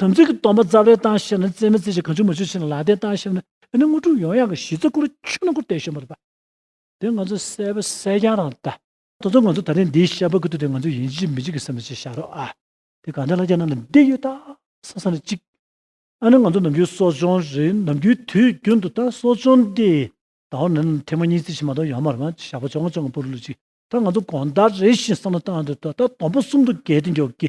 དམ་ཚིག་གི་སྟོང་པ་རྩ་བརའི་སྟངས་ཤེས་ན་རྩེ་མི་རྩེ་ཞིང་གང་ཆུད་མི་ཆུད་ཤེས་ན་ལག་བརྡའི་སྟངས་ཤེས་ན་ཨེ་ནི་དངོས་གྲུབ་ཡོངས་ཡངས་ཀྱི་གཞི་རྩ་སྐུར་ཆུད་ན་སྐུར་བལྟས་ཤོ་མོ་རེད་པ། དེ་ང་ཚོ་གསལ་བོ་གསལ་རྐྱང་རང་བལྟ། ད་དུང་ང་ཚོ་ད་རིང་འདིའི་ཤ་བོ་ཀུ་ཏུ་དེ་ང་ཚོས་ཡིན་གཅིག་མིན་གཅིག་གི་སེམས་ལ་ཅིག་བཞག་རོགས་ཨ། དེ་གང་འདྲ་ལ་རྒྱ་ནག་ལ་འདི་ཡོད་ད་བསམ་བསམ་ལ་གཅིག། ཨ་ནི་ང་ཚོ་ནམ་རྒྱུན་གསོ་སྦྱོང་རེད་ནམ་རྒྱུན་དུས་རྒྱུན་དུ་ད་གསོ་སྦྱོང་འདི་ད་འོ་ན་ནི་ཐེངས་མ་གཉིས་རྩིས་ཤིག་མ་གཏོགས་ཡོང་མ་རེད་མ་ཞག་པོ་བཅོ་ལྔ་བཅོ་ལྔ་སྤོ་རུ་ལུགས་གཅིག་ད་ང་ཚོ་གོང་ལྟར་རེ་ཞིག་བསམ་བློ་བཏང་འདོད་ཐོག་ད་དང་པོ་གསུམ་དུ་བརྒལ་ཏེ་མགྱོགས་ཀྱི་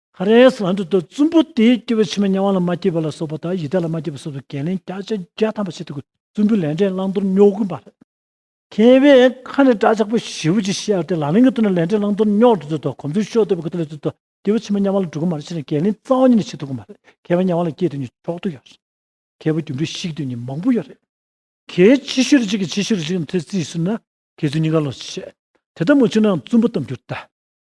ཧ་རེས་ལྷ་འདྲེ་དང་བཙུན་པོ་དེས་སྐྱེ་བའི་ཕྱི་མ་གཉའ་བ་ལ་མ་སྐྱེས་པ་ལ་སོགས་པ་དང་ཡི་དྭགས་ལ་མ་སྐྱེས་པ་སོགས་སུ་འགན་ལེན་བརྒྱ་ཆ་བརྒྱ་ཐམ་པ་བྱེད་དུ་དགོས་བཙུན་པོའི་ལས་འབྲས་བླང་དོར་རྙོག་གི་འབར། མཁས་པའི་ཁ་ནས་སྐྲ་ཆག་པོ་བཞི་བོ་ཅིག་བཤད་ཨ་ཏི་ལ་ལིང་གི་ཐུགས་ན་ལས་འབྲས་བླང་དོར་རྙོག་དྲ་དུད་དོ་གོམ་ཚུལ་ཤོ་དོད་པའི་གུ་དོ་ལས་དུད་དོ་སྐྱེ་བའི་ཕྱི་མ་གཉའ་བ་ལ་འགྲོ་གི་མར་ཕྱི་ནས་འགན་ལེན་རྩ་བ་ཉིད་ནས་བྱེད་དུ་དགོས་མ་རེད་མཁས་པ་གཉའ་བ་ལ་སྐྱེས་དུས་ནི་ཆོག་དུས་ཡོད་རེད་མཁས་པ་རྒྱུ་འབྲས་ཤིག་དུས་ནི་མང་པོ་ཡོད་རེད། གལ་ཆེ་ཤོས་རེ་གཅིག་གི་ཆེ་ཤོས་རེ་གཅིག་ནི་ཐོས་རྩིས་ཟེར་ན་གལ་ཚུལ་གཉིས་ཀ་ལོགས་སུ་ཆད། དེ་ལྟ་མ་བྱུང་ནའང་བཙུན་པོ་གཏམ་རྒྱུད་ལྟ།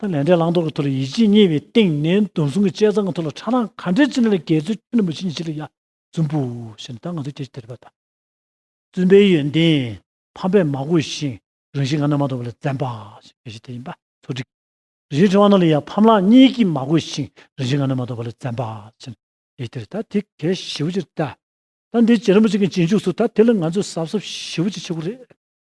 ལས་འབྲས་བླང་དོར་གྱི་ཐོག་ལ་ཡིད་ཆེས་གཉིས་པའི་སྟེང་ནས་འདུམ་སྲུང་གི་དཔྱད་གཙང་གི་ཐོག་ལ་ཁྲ་རང་ག་འདྲའི་ཅི་ན་ལ་གལ་ཚུལ་ཁྱོན་ནས་མུ་ཆེ་ཉི་ཆེ་ལ་ཡ་བཙུན་པོ་ཞེས་ན་ད་ང་ཚོ་ཁྱེད་ཀྱི་དད་པ་དང། བཙུན་པའི་ཡོན་ཏན་ཕམ་པས་མ་གོས་ཤིང་རང་བཞིན་ང་ན་མ་གཏོགས་པ་ལ་བཙན་པ་ཞེས་གལ་ཆེ་དེ་ཡིན་པ་ཚོ་སྒྲིག། རིན་ཆེན་ཁྲི་བ་ན་ལ་ཡ་ཕམ་ལགས་གཉིས་ཀྱིས་མ་གོས་ཤིང་རང་བཞིན་ང་ན་མ་གཏོགས་པ་ལ་བཙན་པ་ཞེས་ན་གལ་དེར་ད་དེ་གལ་ཞི་བོ་ཅིག་རེད། ད་འདི་རྗེ་རིན་པོ་ཆེ་གི་རྗེས་འཇུག་སུ་ད་དེ་ལ་ང་ཚོས་གཟབ་གཟབ་ཞི་བོ་ཅིག་བྱེད་དགོས་རེད།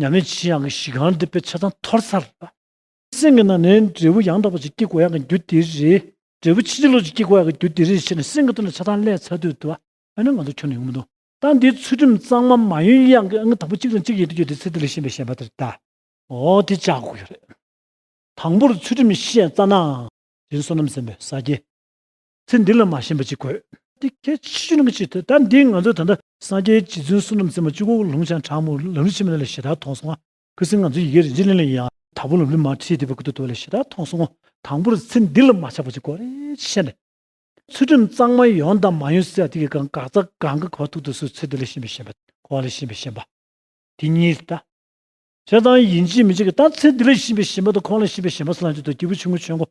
ཉམས་མེད་ཆེ་ཡང་གི་གཞི་གང་འདི་པའི་ཆ་ཚང་ཐོར་ཚར་ལ། སེམས་ཀྱི་ནང་ནས་འབྲས་བུ་ཡང་དག་པ་ཅིག་སྐྱེ་དགོས་ཡག་གི་རྒྱུ་དེ་རེད། འབྲས་བུ་ཕྱིན་ཅི་ལོག་ཅིག་སྐྱེ་དགོས་ཡག་གི་རྒྱུ་དེ་རེད་ཞེས་ནས་སེམས་ཀྱི་སྟོད་ནས་ཆ་ཚང་བསླད་ཚར་དུས་དུ། ཨ་ནི་ང་ཚོ་ཁྱོན་ནས་ཡོང་མི་འདུག་ད་འདིའི་ཚུལ་ཁྲིམས་གཙང་མ་མ་ཡོན་གཡང་གི་ཨ་ནི་དང་པོ་གཅིག་དང་གཅིག་ཡན་དུ་བསྐྱོད་དེ་ཚེ་འདི་ལས་གཞན་པའི་ཞེན་པ་དེར་བལྟ། འོ་དེ་བཅག་དགོས་ཀྱི་རེད། དང་པོར་ཚུལ་ཁྲིམས་ཤེས་རྩ་ནའང། དེ་ནི་བསོད་ནམས་ཟིན་པའི་ས་སྐྱའི། ཚེ་འདི་ལ་མ་ཞེན་པ་ཅིག་དགོས། འདི་གལ་ཆེ་ཤོས་ནི་ཅིག་ལྟོས་ད་འདིས་ང་ཚོས་ད་ལྟ་སངས་རྒྱས་རྗེ་བཙུན་བསོད་ནམས་རྩེ་མོ་སྤྱི་བོར་ལུང་བྱང་དྲག་མོ་ལམ་རིམ་ཕྱི་མ་ལས་ལས་ཞེ་དྲག་མཐོང་སོང་ང། ཁུ་སིམ་ང་ཚོའི་ཡི་གེ་རིན་ཆེན་གླིང་ལ་ཡིན་ཡང་དྭགས་པོ་ལམ་རིམ་མ་ཁྲིད་དེ་བས་གུ་དོག་དོག་ལས་ཞེ་དྲག་མཐོང་སོང་ངོ། དང་པོར་ཚེ་འདི་ལ་མ་ཆགས་པ་ཅིག་དགོས་རེད་ཅེས་བཤད་ནས། ཚུལ་ཁྲིམས་གཙང་མ་ཡོང་དང་མ་ཡོང་སེ་ད་ཐིག་གི་གང་འགག་རྩ་གང་གི་གོ་བ་ཐུག་ཐུག་སུ་ཚེ་འདི་ལ་ཞེན་པའི་ཞེན་པ། འཁོར་བ་ལ་ཞེན་པའི་ཞེན་པ། དེ་གཉིས་ལྟ། བྱས་ཙང་ཡིན་གཅིག་མིན་གཅིག་གི་ད་ཚེ་འདི་ལ་ཞེན་པའི་ཞེན་པ་དང་འཁོར་བ་ལ་ཞེན་པའི་ཞེན་པ་སུ་ལ་འཇུག་དང་སྐྱེས་བུ་ཆུང་ངུ་ཆོས་འཁོར་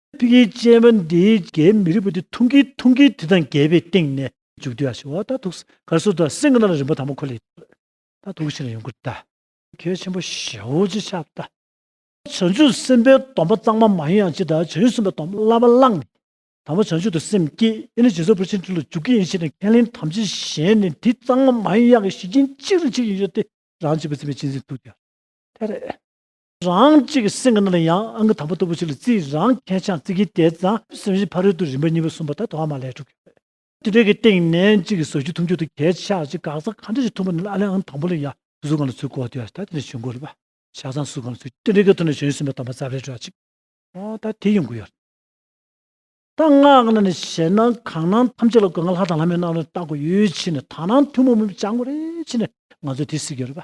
ཏིང་ངེ་འཛིན་ཅན་པ་འདི་རྒྱའི་མི་རིགས་པ་འདི་ཐུང་གིས་ཐུང་གིས་དེ་དང་འགལ་བའི་སྟེང་ནས། མཇུག་བསྡུ་ཡག་ཞིག་འོ་ད་ཐུགས། གར་སོ་ད་སེང་གི་ན་ལ་རིན་པོ་དང་པོ་ཁོ་ལས། ད་ཐུགས་ཤིང་ལ་ཡོངས་བསྐུར་ད། མཁས་ཆེན་པོ་ཞེ་འོ་ཅི་ཆགས་ད། བྱང་ཆུབ་སེམས་དཔའི་སྡོམ་པ་གཙང་མ་མ་ཡིན་ཡང་ཅི་ད་བྱང་ཆུབ་སེམས་དཔའི་སྡོམ་པ་བླ་མ་བླངས་ནས། དང་པོ་བྱང་ཆུབ་ཏུ་སེམས་བསྐྱེད་ཡེ་ནས་རྗེས་སོར་བུར་ཕྱིན་དྲིལ་ལ་འཇུག་གི་ཡིན་ཞེས་ནས་ཁས་ལེན་དམ་ཅན་གཞན་ནི་འདི་གཙང་མ་མ་ཡིན་ཡང་གཞི་རྐྱེན་གཅིག་རེ་ཆེ་ཡིན་ཤོག་སྟེ་རང་བྱིས་པ་འཛིན་པའི་སྤྱི་འཛིན་ཐུགས་རྒྱ། ཐལ། རང་གཅིག་སེམས་ཀྱི་ནང་ལ་ཡང་ཨང་ཀི་དང་པོ་ལྟ་བུ་ཞིག་ལ་རྩིས་རང་མཁས་ཆང་རྩི་གིས་དེ་ཙམ་སེམས་ཤིང་ཕ་རོལ་ཏུ་རིམ་པ་གཉིས་པ་གསུམ་པ་དག་ཐོག་མ་ལས་གྲུབ་ཀྱི་རེད། དེ་དག་གི་སྟེང་ནས་གཅིག་གིས་བཟོ་རྒྱུ་འཐུང་རྒྱུ་དང་གས་ཆག་ཅིག་འགག་རྩ་གང་འདྲ་ཞིག་འཐུང་བ་ནི་ཨ་ལན་ཨང་དང་པོ་ལ་ཡང་གཟུགས་གང་ལ་ཚུད་གོ་དེ་ལ་ད་དེ་འདྲ་བྱོན་གོ་ལ་བཞག་ཙང་གཟུགས་གང་ལ་ཚུད་དེ་འདྲ་གི་ཐོག་ནས་བྱོན་ཟིན་པ་དང་པ་རྩ་བའི་སྒྲ་གཅིག་ད་དེ་ཡོང་གི་ཡོད་རེད། ད་སྔགས་ནང་ནས་བཤད་ན་གང་སྣང་ཐམས་ཅད་ལ་སྒོ་ང་ལྷ་དང་ལྷ་མོའི་སྣང་བ་ལ་བརྟག་གོ་ཡོད་ཕྱིན་ན་དག་སྣང་ཐུན་མོང་མིན་པ་སྦྱང་གོ་རེད་ཕྱིན་ན་ང་ཚོས་དེ་གཟིགས་ཀྱི་རེད།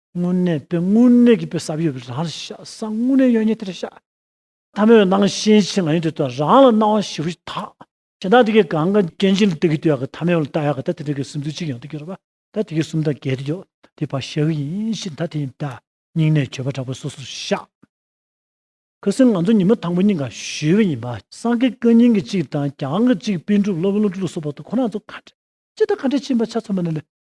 དངོས་གནས་དཔེ་དངོས་གནས་ཀྱི་དཔེ་བསམ་ཡོད་པའི་རང་རེད་ཤག་བསམ་དངོས་གནས་ཡོད་ཉེས་དེ་རེད་ཤག། ཐ་མའི་སྣང་ཤེས་ཆེ་ང་ཡིན་དུས་ད་རང་ལ་སྣང་བ་ཞིབ་རེ་ཞིག་དག་ཇི་ལྟར་དེ་གའི་གང་ག་རྐྱེན་ཅན་ལ་ལྟ་གི་དུས་ཡག་གི་ཐ་མའི་བ་ལ་ལྟ་ཡག་གི་ད་དེ་འདྲ་གི་སིམ་འཛུལ་ཅིག་ཡང་དུ་གྱུར་བ་ད་དེ་གའི་སུམ་རྟགས་འགལ་དུ་གྱུར་དེ་བར་བཤད་གི་ཡིན་ཞེས་ད་དེ་ཡིན་ད་སྙིང་ནས་བྱོལ་བ་དྲག་པོ་སོ་སོར་ཤག། ཁུ་སིམ་ང་ཚོ་ཉི་མ་དང་པོ་གཉིས་ཀ་ཞུས་བ་ཡིན་པ་སངས་རྒྱས་བཀའ་རྙིང་གི་གཅིག་དང་གྱང་གི་གཅིག་དཔེ་འགྲུབ་སློབ་དཔོན་བློ་གྲོས་ལུགས་སོགས་བར་དུ་ཁོ་རང་ཚོ་ཁ་བྲལ་ཅི་ལྟར་ཁ་བྲལ་ཕྱིན་པ་ཆ་མཚོན་པ་ནི་ལས་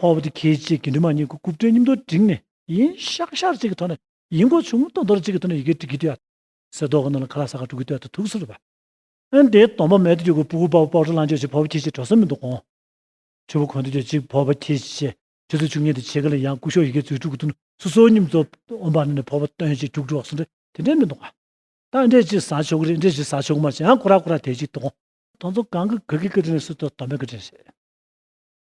ཕོ་བ་དེ་ཁྱེད་ཅེས་དགེ་འདུན་མ་གཉིས་ཀྱི་རྐུབ་སྟེགས་སྙིམ་དོར་བསྒྲིགས་ནས། ཡིན་ཤག་ཤག་ཅིག་གི་ཐོག་ནས་ཡིན་གོ་བྱུང་སྟོང་དོར་ཅིག་གི་ཐོག་ནས་ཡི་གེ་བྲི་གི་བསྡད། གསེར་ཏོག་གི་ནང་ལ་ཁ་ལག་ས་ག་དྲུག་གི་སྟོད་དུ་ཐུག་སོ་རུ་བབས། དེའི་གདོང་པ་མལ་དུ་རྒྱུག་གི་སྤུ་གུ་པ་བོ་པོག་ཁྲོ་ལང་སྤྱོད་ཅིག་ཕོ་བ་ཁྱེད་ཅེས་གྲོ་སོན་མི་འདུག་གོང་ཆུ་བོ་གོང་དུ་སྐྱོད་ཅིག་ཕོ་བ་ཁྱེད་ཅེས་ཆུ་ཚོད་བཅུ་གཉིས་དང་ཕྱེད་ཀ་ལ་ཡང་སྐུ་ཤོག་ཡི་གེ་མཛོད་དྲུག་གི་ཐུགས་སུ་སོ་སྙིམ་རྫོབ་ཨོམ་བྷ་ན་ནས་ཕོ་བ་སྟོན་ཅིག་དྲུག་གྲོགས་སུ་འདྲེ་དེ་འདྲེ་མི་འདུག་གོང། ད་ཨ་འདྲེ་ཅིག་ཟ་ཆོག་གི་རེད་འདྲེ་ཅིག་ཟ་ཆོག་གི་མ་རེད་ཡང་ཁོ་ར་ཁོ་ར་དེད་ཅིག་འདུག་གོང། དོང་ཚོ་གང་གི་ག་གི་ཀ་དྲིན་རེད་སུ་དོ་དོམ་པའི་ཀ་དྲིན་རེད།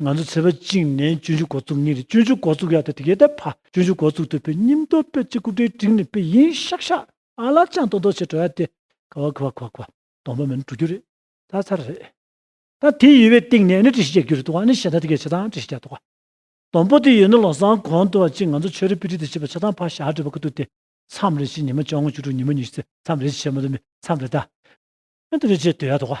ང་ཚོ་ཚེ་བ་བཅིངས་ནས་སྤྱོད་འཇུག་འགོ་བཙུགས་ཉིན་རེ་སྤྱོད་འཇུག་འགོ་བཙུགས་ཡག་ཏུ་དེ་གའི་ད་བར་སྤྱོད་འཇུག་འགོ་བཙུགས་ཐུབ་པའི་སྙིམ་སྟོབས་དཔེ་གཅིག་སྐུ་དྲིལ་བསྒྲིགས་ནས་དཔེ་ཡིན་ཤག་ཤག་ཨ་ལ་ཅང་ཏོག་ཏོག་བྱེད་འགྲོ་ཡ་དེ་ཁ་བ་ཁུ་བ་ཁུ་བ་ཁུ་བ་སྡོང་པོ་མིན་འགྲོ་རྒྱུ་རེད་ཚར་ཚར་རེད། ད་དེ་ཡོད་པའི་སྟེང་ནས་ནི་བཀྲ་ཤིས་རྒྱག་རྒྱུ་རེད་འདུག་ཨ་ནི་ཤེས་ད་དེ་གའི་བྱེད་སྟངས་བཀྲ་ཤིས་རྒྱག་འདུག་སྡོང་པོ་དེ་ཡོད་ན་ལོ་སྲང་གོང་དུ་བ་གཅིག་ང་ཚོ་ཆོས་རའི་དཔེ་ཁྲིད་དུ་བྱེད་པ་བྱེད་སྟངས་ཕར་བཞག་བྲིས་པ་ཁུ་ཐུག་དེ་མཚམས་རེ་བྱེད་ཉི་མ་བཅོ་ལྔ་བཅུ་དྲུག་ཉི་མ་ཉི་ཤུ་ཚེ་མཚམས་རེ་བྱེད་མ་འདུག་མི་མཚམས་རེ་ད་ཤིན་ཏུ་རེ་བྱེད་འདོད་ཡ་འདུག།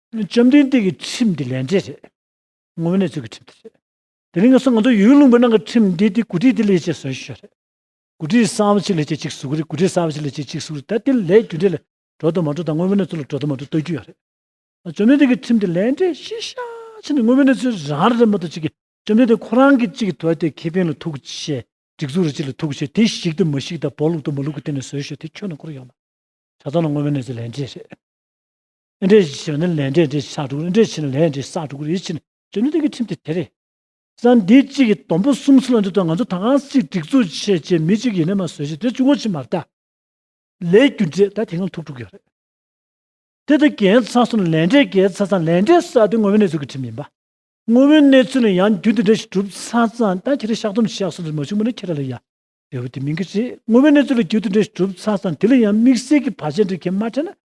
བཅོམ་ལྡན་འདས་ཀྱི་ཁྲིམས་འདི་ལས་འབྲས་རེད། ངོ་བོ་ནི་ཆོས་ཀྱི་ཁྲིམས་དེ་རེད། དེ་རིང་ང་ཚོ་ང་ཚོའི་ཡུལ་ལུང་པའི་ནང་གི་ཁྲིམས་འདི་དེ་གུ་དྲིའི་དེ་ལས་ཅེས་ཟོས་ཤོས་རེད། གུ་དྲིའི་གསང་བ་ཅིག་ལས་ཅེས་གཅིག་གཟུགས་རེད་གུ་དྲིའི་གསང་བ་ཅིག་ལས་ཅེས་གཅིག་གཟུགས་རེད་ད་དེ་ལས་རྒྱུ་འབྲས་ལ་གྲོགས་དང་མ་གྲོགས་དང་དངོས་པོ་ནི་ཚུལ་ལ་གྲོགས་དང་མ་གྲོགས་ལྟོས་རྒྱུ་ཡང་རེད། བཅོམ་ལྡན་འདས་ཀྱི་ཁྲིམས་འདི་ལས་འབྲས་ཤེས་བྱ་ཆེ་ནི་དངོས་པོ་ནི་ཚུལ་རང་རེད་མ་གཏོགས་གཅིག་གིས་བཅོམ་ལྡན་འདས་ཁོ་རང་གིས་གཅིག་གི་དོ་དེ་ཁེ་ཕན་ལ་ཐུག་ཤེས་སྒྲིག་འཛུགས་རེ་གཅིག་ལ་ཐུག་ཤེས་དེ་བཤིག་དང་མ་བཤིག་དང་བོགས་བླུག་དང་མ་བླུག་གི་སྟེང་ནས་ཟོས་ཤོས་དེ་ཁྱོད་ནང་ཁུར་ཡོང་མ་ཆ་ཚང་ལ་དངོས་པོ་ནི་ཚུལ་ལས་འབྲས་རེད། ཨེ་འདྲས་ཞེས་པ་ནི་ལས་འབྲས་འདྲས་ཞག་དྲུག་རེ་འདྲས་ཕྱིན་ལས་འབྲས་ཞག་དྲུག་རེའི་ཕྱིན་དོན་ནི་དོན་གྱི་ཁྲིམས་དེ་དེ་རེད། ས་འདི་གཅིག་གི་དོམ་པོ་གསུམ་ཚུར་ལ་འདུས་དང་ང་ཚོ་ད་གང་ཞིག་སྒྲིག་འཛུགས་བྱེད་ཅེས་མི་གཅིག་ཡེ་ནས་མ་བཟོད་ཅིང་དེ་བཅུ་ངོ་ཆིག་མར་བལྟ། ལས་རྒྱུ་འབྲས་ད་དེ་སྔ་ཐུག་འགྲོ་གི་རེད། དེ་ལྟར་རྒྱལ་ཚང་སོགས་ནས་ལས་འབྲས་བརྒལ་ཚར་ཙང་ལས་འབྲས་ཞག་དེ་ངོ་བོའི་གནས་ཚུལ་གྱི་ཁྲིམས་ཡིན་པ། ངོ་བོའི་གནས་ཚུལ་ནི་ཡང་རྒྱུ་འདི་འདྲ་ཞིག་གྲུབ་ཚར་ཙང་ད་ཁྱེད་རེ་ཞག་དོམ་ཞག་གསུམ་ཚུར་མ་བྱུང་བ་ནི་ཁྱེད་ར་ལ་ཡ། རེ་བ་དེ་མིན་གྱི་རེད་ངོ་བོའི་གནས་ཚུལ་ལ་རྒྱུ་འདི་འདྲ་ཞིག་གྲུབ་ཚར་ཙང་དེ་ལ་ཡང་དམིགས་བསལ་གྱི་བར་ཆད་འདྲ་ཁྱེད་མ་འཕྲད་ན་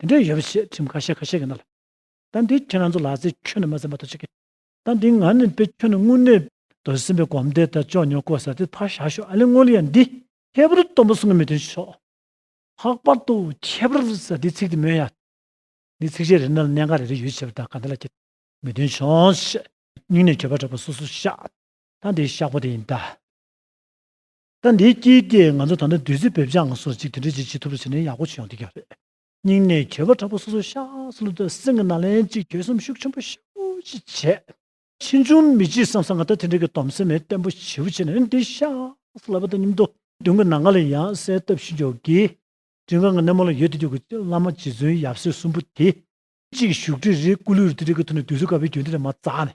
དེ་འདྲ་ཡོད་རེད་ཞེས་ཁྲིམས་ཁ་ཤས་ཁ་ཤས་ཀྱི་ནང་ལ། ད་འདི་ཁྱེད་རང་ཚོ་ལགས་ཚེ་ཁྱོད་ནི་མ་ཟིན་པ་དོ་ཅི་ཁེ། ད་འདི་ང་ནི་དཔེ་ཁྱོད་ནི་དངོས་གནས། དོ་ཟིན་པའི་གོམས་དེ་ད་ཅོག་ཉོ་ཀོ་ཟ་དེ་ཕར་བཞག་ཤོག་ཨ་ལེ་སྔོན་ལ་ཡང་འདི། ཁྱད་པར་སྟོན་པ་གསུང་གི་མི་དོན་ཆོག། ལྷག་པར་དུ་ཁྱད་པར་ཟ་དེའི་ཚིག་དེ་མོན་ཡ། འདི་ཚིག་གཞན་རེ་ནང་ལ་གནད་འགག་རེ་རེ་ཡོད་ཆེ་བ་དང་ག་འདི་ལ་ཁྱེད། མི་དོན་ཆོག་ཞེས། སྙིང་ནས་གྱོད་པ་དྲག་པོ་སོ་སོ་བཤགས། ད་འདི་བཤགས་པོ་དེ་ཡིན་ད། ད་འདིའི་དཀྱིལ་དེ་ང་ཚོ་ད་ལྟ་བདུད་རྩི་འབེབས་སྦྱངས་སོགས་ཅིག་དེ་འདྲ་ཅིག་བྱེད་ཐུབ་རེ་བྱས་ནས་ཡག་པོ་བྱེད་ཡོང་དེ་ག་རེད། སྙིང་ནས་གྱེས་པ་དྲག་པོ་སོ་སོ་ཤ་ཟ་བློ་དང་སེམས་ཀྱི་ནང་ལན་ཅིག་གྱོད་སེམས་ཤུགས་ཆེན་པོ་ཤུགས་ཀྱིས་བྱས། ཕྱིས་འབྱུང་མི་སྐྱིད་བསམ་བསམ་ང་ད་དེ་འདྲ་གི་དོམ་སེམས་མེད་བརྟན་པོ་བྱེད་པོ་བྱས་ནས་འདི་ཤ་ཟ་ལབ་པ་དང་སྙིམ་དོ། མདུན་གྱི་ན་ང་ལ་ཡང་གསལ་བཏབ་བཞིན་འཇོག་གི། དྲི་ང་གི་སྣེ་མོ་ལ་ཡོད་དེ་དུས་ཀྱི་བླ་མ་རྗེ་བཙུན་ཡབ་སྲས་གསུམ་པོ་དེ། གཅིག་བཞུགས་ཁྲི་རི་སྐུ་ལུས་རི་དེ་འདྲ་གི་ཐོག་ནས་དུས་ཚོད་དཀའ་བའི་རྒྱུན་དེ་ལས་མ་བཙགས་ནས།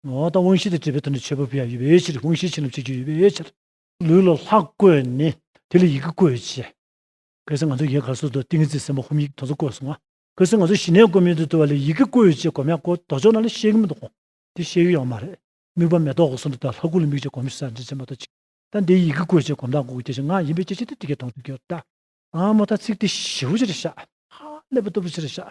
འོ་ད་དབང་ཤེས་དང་བཅས་པའི་དོན་དུ་འཆད་པ་བུ་ཡང་ཡོད་པའི་ཕྱིར་དབང་ཤེས་ཕྱིན་རླབས་ཆེ་རྒྱུ་ཡོད་པའི་ཕྱིར། ལུས་ལ་ལྷག་བཀོད་ནི་དེ་ལ་ཡི་གེ་བཀོད་བྱས། གལ་སྲིད་ང་ཚོ་ཡི་གེ་ག་སོགས་དུ་ཏིང་ངེ་འཛིན་སེམས་དཔའ་ཧོམ་ཡིག་དོན་གསུམ་བཀོད་སོང་ང། གལ་སྲིད་ང་ཚོ་ཞི་གནས་བཀོད་མིན་དུ་བརྟོལ་བ་ལས་ཡི་གེ་བཀོད་བྱས་སྒོམ་ཡང་སྒོ་ལྡོག་ཕྱོགས་ན་ལ་ཤེས་གི་མི་འདུག་གོ། དེ་ཤེས་གི་ཡོང་མ་རེད། དམིགས་པ་མེ་ཏོག་གི་ཟུར་དུ་དང་ལྷ་སྐུ་ལ་དམིགས་བྱས་སྒོམ་བྱེད་སར་འདྲེན་བྱེད་མ་གཏོགས་ཅི། ད་འདི་ཡི་གེ་བཀོད་བྱས་སྒོམ་དང་སྒོ་དགེ་བྱེད་ངག་ཡིན་པའི་སྐྱེ་མཆེད་དུ་དེ་སྐད་མཐོང་ཐོས་ཀྱི་ཡོད་དཱ། ཨ་མོ་ད་ཚིག་དེ་ཞི་བོ་ཆེར་བཞག། ཧ། ཀླད་པ་སྟུག་པོ་ཆེར་བཞག།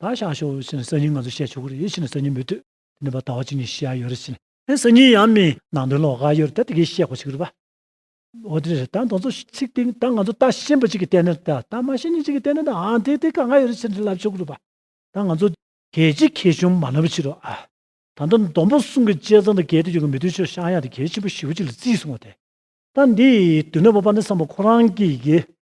ད་ཤ་ཤོ་ཞེས་ནི་སང་ཉིན་ང་ཚོས་བཤད་ཆོག་གི་རེད་ཞེས་ནི་སང་ཉིན་མི་ལྟོས། དེ་ནི་བ་ད་བ་ཅིག་ནས་བཤད་ཨ་ཡོད་རེད་ཞེས་ནི། ཨེ་སང་ཉིན་ཡང་མིན། ནང་དོན་ལོག་ཨ་ཡོད་རེད་ད་དེ་གས་བཤད་དགོས་ཆིག་རེད་བ། འོ་དེ་རེད་ད་ང་ཚོ་ཚིག་སྟེང་ད་ང་ཚོ་ད་ཤེས་འབོད་ཅིག་གིས་བལྟས་ན་རེད་ད་ད་མ་ཤེས་ཉིན་ཅིག་གིས་བལྟས་ན་རེད་ཨང་དེ་དེ་ག་ང་ཡོད་རེད་ཞེས་ནི་ལབ་ཆོག་གི་རེད་བ། ད་ང་ཚོ། གས་ཅིག་ཁེ་ཆུང་མ་ལབ་པའི་ཕྱིར་རོ་ཨ། ད་ལྟ་ལྡོམ་པོ་གསུང་གི་དཔྱད་ཚང་དང་གས་དེ་ཡོད་ཀི་མི་དོན་ཕྱིར་ཤང་ཡག་དེ་གས་ཆེན་པོ་བཞི་བོ་ཅིག་ལ་བརྩིས་སོང་བ་དེ། ད་འདིའི་དུས་ན་བ་པ་ནི་སང་བ་ཁོ་རང་གིས་གས་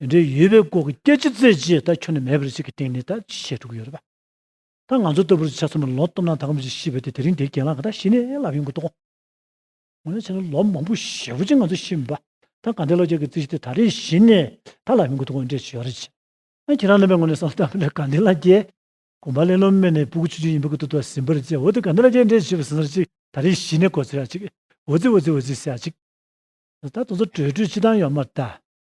འབྲེལ་ཡོད་པའི་སྐོར་གྱི་སྐད་ཆ་བཙལ་རྗེས་ད་ཁྱོད་ནས་མེད་པར་ཅིག་གི་སྟེང་ནས་ད་ཅི་བྱས་འགྲོ་གི་ཡོད་རེད་པ། ད་ང་ཚོ་ལྟ་བུར་ཆ་ཚང་མ་ལོག་སྟོབས་ན་ད་ཁོམ་ཅིག་ཤི་བས་ཏེ་དེ་རིང་དེའི་གྱེན་ལངས་ག་ད་ཤི་ནས་ལབ་ཡོང་གི་འདུག་གོ། འོ་ན་ཕྱི་ལོ་ལོ་མང་པོ་ཞེ་བོ་ཅིག་ང་ཚོ་ཤི་མེད་པ། ད་གང་དེའི་ལོ་བརྒྱ་གི་རྩིས་ཤིག་ཏེ་ད་རེས་ཤི་ནས་ད་ལབ་ཡོང་གི་འདུག་གོ་འདྲེ་བྱོས་རེ་བྱས། ཨ་ཁྱེད་རང་རྣམ་པའི་ངོ་ནས་བསམ་ད་ལོ་གང་དེའི་ལ་རྒྱའི། གོམ་པ་ལེ་ལོ་སྨད་ནས་སྤུ་གུ་ཆུ་ཆུ་ཡིན་པ་གི་ཏུ་ཏུ་ཟིན་པར་བྱས་འོ་དེ་གང་དེའི་ལ་རྒྱའི་འདྲེ་བྱོས་པ་ཟིན་ས་རེ་ཅིག་ད་རེས་ཤི་ནས་གོ་ཚོད་ཡག་ཅིག་འོ་རྩིས་འོ་རྩིས་འོ་རྩིས་ཟེར་ཡག་ཅིག། ད་དུང་ཚོ་བྲོས་བྲོས་ཅི་བཏང་ཡོད་མ་ད།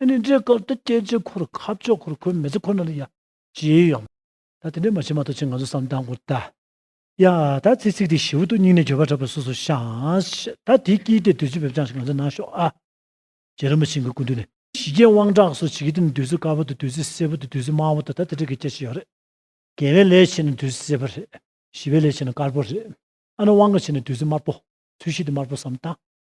ཨ་ནི་འདྲའི་སྐབས་ད་སྐྱེ་འཆི་འཁོར་ཁ་ཕྱོགས་འཁོར་ཁོལ་མེ་ཚེ་འཁོར་ནང་ལ་ཡང་བྱེད་ཡོང། ད་དེ་འདྲའི་མ་བྱེད་མ་ཐོག་ཆེད་ང་ཚོ་བསམ་སྟངས་སྐོར་ད། ཡ། ད་ཚེ་ཚིག་དེ་ཞིབ་བུ་འདུག་སྙིང་ནས་འགྱོད་པ་འཁྲབ་པ་སོ་སོ་ཤངས། ད་དེ་སྐྱིད་དེ་བདུད་རྩི་བེབ་ཅང་ཞིག་ང་ཚོ་གནང་ཤོག་ཨ། རྗེ་རིན་པོ་ཆེ་འགའི་སྐུ་མདུན་ནས། ཞི་རྒྱས་དབང་དྲག་སོགས་བྱེད་ཀྱི་དེ་ནི་བདུད་རྩི་དཀར་པོ་དང་བདུད་རྩི་སེར་པོ་དང་བདུད་རྩི་དམར་པོ་དང་ད་དེ་འདྲ་གི་སྐད་ཆ་ཡོད་རེད། རྒྱལ་བའི་ལས་བྱེད་ན་བདུད་རྩི་སེར་པོ་རེད། ཞི་བའི་ལས་བྱེད་ན་དཀར་པོ་རེད། ཨ་ནི་དབང་ག་བྱེད་ན་བདུད་རྩི་དམར་པོ། ཚུལ་ཤིག་དེ་དམར་པོ་བསམ་སྟངས།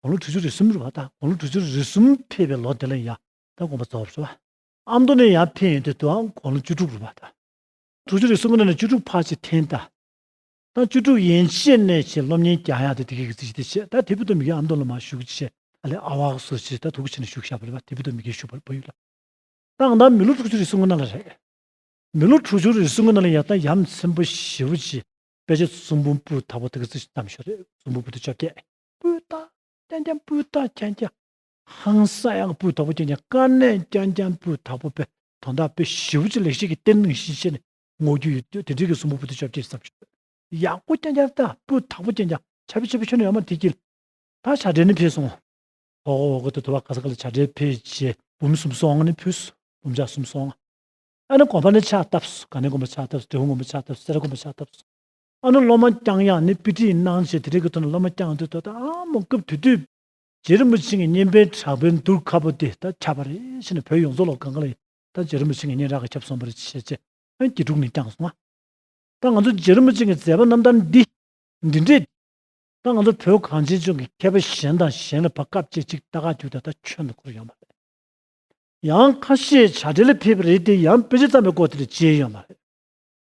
དགུང་ལོ་དྲུག་ཅུ་རེ་གསུམ་རུ་བ་དང་དགུང་ལོ་དྲུག་ཅུ་རེ་གསུམ་ཕེབས་པའི་ལོ་དེ་ལ་ཡང་དག་དགོངས་པ་རྫོགས་པར་བྱ་བ། ཨ་མདོ་ནས་ཡང་ཕེབས་ཡོན་ཏན་དུའང་དགུང་ལོ་བཅུ་དྲུག་རུ་བ་དང། དྲུག་ཅུ་རེ་གསུམ་ནས་བཅུ་དྲུག་བར་ཆེ་ཐན་དང། ཐང་བཅུ་དྲུག་ཡན་ཆད་ནས་བྱས་སློབ་གཉེར་རྒྱ་ཡང་དུ་དེ་གའི་གི་ཚིག་ཅི་སྟེ་བྱས་ད་དེ་བུ་དོ་མི་གའི་ཨ་མདོ་ལ་མ་བཞུགས་ཅི་བྱས་ཨ་ལས་ཨ་བྷག་སུ་ཅི་ད་དུ་གུ་ཆེ་ནས་བཞུགས་ཞབས་ལས་པ་དེ་བུ་དོ་མི་གའི་བཞུགས་པར་བུ་ཡུ་ལ་བཏང་ད་མི་ལོ་དྲུག་ཅུ་རེ་གསུམ་གོ་ན་ལ་རེད། མི་ལོ་དྲུག་ཅུ་རེ་གསུམ་གོ་ན་ལ་ཡང་ད་ཡམ་ཚན་པོ་བཞི་བོ་ཅི་དཔེ་ཆ་ཙུམ་བུམ་པུ་དག་པོ་དེ་གའི་ཚིག་ཅི་ཙམ་ཞོ་རེད་ཙུམ་བུམ་པུ་དེ་བཅོ་བརྒྱད། སྤུས་དག་ཅན་ཅན་སྤུས་དག་ཅན་ཅན། ཧང་སངས་དབྱངས་སྤུས་དག་པོ་ཅན་ཅན་དཀའ་གནད་ཅན་ཅན་སྤུས་དག་པོ་དཔེ་དོན་དག་པོས་ཞི་བ་ཆེ་ལེགས་བཤད་ཀྱི་གཏེར་མིང་བཞིན་ཤེས་ནས་བསྔོ་རྒྱུ་ཡོད་དུས་དེ་འབྲེལ་གྱི་གསུང་པོ་བུ་སྟོད་ཆབ་ཅེས་བསམ་ཤོག། ཡག་པོ་ཅན་ཅན་དག་སྤུས་དག་པོ་ཅན་ཅན་ཆབ་ཆེ་པོ་ཆོས་ནི་ཡོད་མ་དེ་གྱིས། ད་བྱ་བྲལ་ནི་འཕེལ་སོང། ཧོ་ཧོ་ཧོ་གོ་ཐོས་ཐོས་བ་ག་ས་ག་ལ་བྱ་བྲལ་འཕེལ་བྱེད་བུམ་གསུམ་སོང་ནི་ཕུལ། བུམ་ཆ་གསུམ་སོང། ཨ་ནི་གོམས་པ་ནི་ཆགས་སྟབས་སུ་ག་ནི་གོམས་པ་ཆགས་སྟབས་སུ་དྲི་བོ་ངོམས་པ་ཆགས་སྟབས་སུ་སེ་ར་གོམས་པ་ཆགས་སྟབས་སུ། ཨ་ནུ་སློབ་མ་བསྐྱངས་ཡག་ནི་པི་ཏི་ཡིན་སྣང་བྱས་དེ་རིག་གི་ཐོག་ནས་སློབ་མ་བསྐྱངས་དུས་ད་ལྟ་ཨ་མོ་སྐབས་དུས་དུས་རྗེ་རིན་པོ་ཆེ་ངའི་སྙན་པའི་དྲག་པའི་མདུར་ཁ་པོ་དེ་ད་ཁྱབ་པ་རེད་ཤི་ནས་བོད་ཡོངས་རྫོགས་ལོག་གང་གང་ལ་ཡི་ད་རྗེ་རིན་པོ་ཆེ་ངའི་སྙན་རག་གི་ཁྱབ་སོང་པ་རེད་ཅེས་བཤད་ཆེད་ཨན་གྱིས་དྲུག་ནས་བསྐྱངས་སོང་ང་ད་ང་ཚོ་རྗེ་རིན་པོ་ཆེ་ངའི་མཛད་པ་རྣམ་ཐར་འདི་འདི་འདྲས་ད་ང་ཚོ་བོད་གངས་ཅན་ལྗོངས་ཀྱི་མཁས་པ་གཞན་དང་གཞན་ལ་བ་སྐབས་བཅད་གཅིག་ད་ག་དུས་ད་ད་ཁྱོན་དུ་འཁོར་ཡོང་བ་རེད་ཡང་ཁ་ཤས་བྱ་བྲལ་ལ་ཕེབས་པ་རེད་དེ་ཡང་དཔེ་ཆ་ཙམ་པའི་སྐོར་དེ་ལས་བརྗེད་ཡོང་བ་རེད།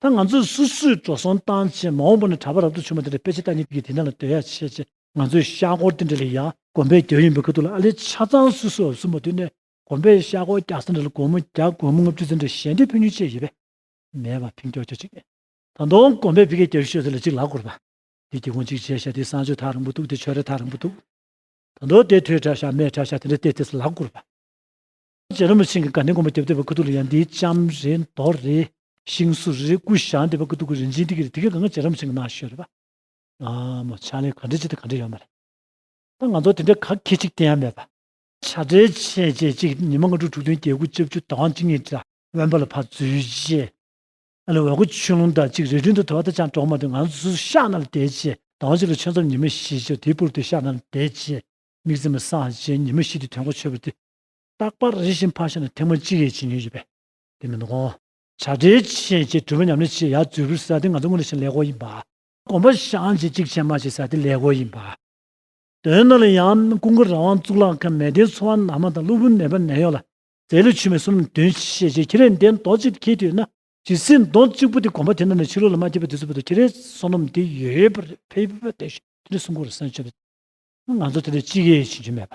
ད་ང་ཚོས་སུ་སུའི་འགྲོ་སོང་བཏང་ཆེད་མ་འོངས་པ་ནས་གྲྭ་པ་རབ་ཏུ་བྱུང་བ་དེ་འདྲ་ཕལ་ཆེར་ད་ནི་དུས་ཀྱི་དེ་འདྲ་ལ་སྡོད་ཡ་ཆེ་ཆེ་ང་ཚོའི་ཤག་སྒོར་དེ་འདྲ་ལས་ཡག་གོམ་པའི་རྒྱབ་ཡིན་པའི་ཁ་ཐུག་ལ་ཨ་ལེ་ཆ་ཚང་སུ་སུ་འོབས་སུ་མ་དུས་ནས་གོམ་པའི་ཤག་སྒོར་རྒྱག་ས་འདྲ་ལ་སྒོར་མོ་བརྒྱ་སྒོར་མོ་ལྔ་བཅུ་ཙམ་འདྲ་ཞལ་འདེབས་ཕུལ་ཉོ་ཆེད་ཡོད་པས་མེད་པ་ཕིང་ཀྱོག་ཀྱོག་ཅིག་མེད། ད་དུང་གོམ་པའི་བི་ཀའི་རྒྱབ་ཤོད་ཟེར་ལ་ཅིག་ལག་བསྐུར་བ། དེ་སྒེའུ་ཁུང་གཅིག་བྱས་ཤག་དེའི་སྲང་ཆོད་ཐག་རིང་པོ་འདུག་དེ་ཆོད་རེ་ཐག་རིང་པོ་འདུག། ད་དུང་དེ་ཐོད་ཁྲག་ཤག་མེ་ཁྲག་ཤག་དེ་འདྲ་བལྟས་བལྟས་སུ་ལག་བསྐུར་བ། རྗེ་རིན་པོ་ཆེན་གྱི་དགའ་ལྡན་དགོན་པ་རྒྱབ་སྟེགས་པའི་སྐུ་གདུང་ལ་ཡང་འདིའི་ལྕམ་རེ་མདོ་རེ། ཤིང་སུ་རེ་ཀུ་ཤ་འདེབས་པ་སྐུ་གདུང་གི་རིན་ཆེན་ཏིག་གེ་རེ་དེ་གའི་གང་གཱ་རྗེ་རིན་པོ་ཆེན་གྱི་ནང་ཞོལ་རེ་བ། ན་མོ་ཕྱག་ལེན་གང་འགྲེལ་བྱེད་དེ་གང་འགྲེལ་ཡོད་མ་རེད། ད་ང་ཚོར་དེ་འདྲའི་ག་གེ་ཅིག་བསྟན་ཡ་མེད་པ། བྱ་བྲལ་བྱས་རྗེས་གཅིག་ཉི་མ་ལྔ་དྲུག་དྲུག་བདུན་བརྒྱད་དགུ་བཅུ་བཅུ་དག་དབང་བཅུ་གཉིས་དགྲ་བོན་པ་ལ་ཕར་འཛུལ་རྗེས། ཨ་ལས་འོལ་སྒོ་ཆུ་ཀླུང་དག་གཅིག་རི་བྲུན་དུ་དོར་བ་དང་ཅང་གྲོགས་མ་དུ་ང་ཚོ་ཤག་ནང་ལ་བསྡད་རྗེས་དག་དབང་བཅུ་ལ་ཆོས་མཚམས་ཉི་མ་བཞི་བཅུ་དེའི་པུར་དུ་ཤག་ནང་ལ་བསྡད་རྗེས། མིག་ཙེ་མ་སངས་རྗེས་ཉི་མ་བཞི་དེ་དོན་གོ་ཆོད་པོ་དེ་རྟག་པར་རེ་ཞིག་འཕར་ཤ་ནི་ཐེངས་མ་གཅིག་ཡས་བྱིན་ཡོད་ཅེས་པས་དེ་མི་འདུག་གོ། བྱ་བྲལ་བྱས་ཞེས་གྲུབ་པའི་ཉམས་ལེན་བྱེད་ཡ་རྫུས་པོའི་ས་དེ་ང་ཚོ་སྔོན་ལས་ཤིང་ལས་གོ་ཡིན་པ། གོམ་པ་བཤངས་བྱེད་གཅིག་བྱས་མ་བྱས་ས་དེ་ལས་གོ་ཡིན་པ། དོན་རྣམས་ལ་ཡང་ཀུན་དགའ་རང་དབང་གཙུག་ལག་མཁན་མལ་སྡེའི་འཚོ་བ་ནང་མ་དང་གློ་བུར་ནད་པ་ནད་གཡོག་ལ་རྫས་ལུད་ཆུ་མེད་གསུམ་འདོན་བྱེད་ཅེས་ཁྱི་རལ་འདེད་མདོག་གཅིག་ཏུ་ཁེལ་དུས་ན། ཇི་སྲིད་མདོག་གཅིག་པོ་དེ་གོམ་པ་དེ་རྣམས་ལས་ཕྱི་རོལ་ལ་མ་སྐྱེས་པའི་དུས་ཚོད་པོ་ཏུ་ཁྱི་རལ་བསོད་ནམས་དེ་ཡོད་པར་ཕེབས་པ་དེ་བཞིན་དེ་འདྲའི་སྲུང་འཁོར་ལ་སེམས་ཆེན་པོ། ང་ཚོ་དེ་ལས་གཅིག་ཡས་བྱིན་གྱི་མེད་པ།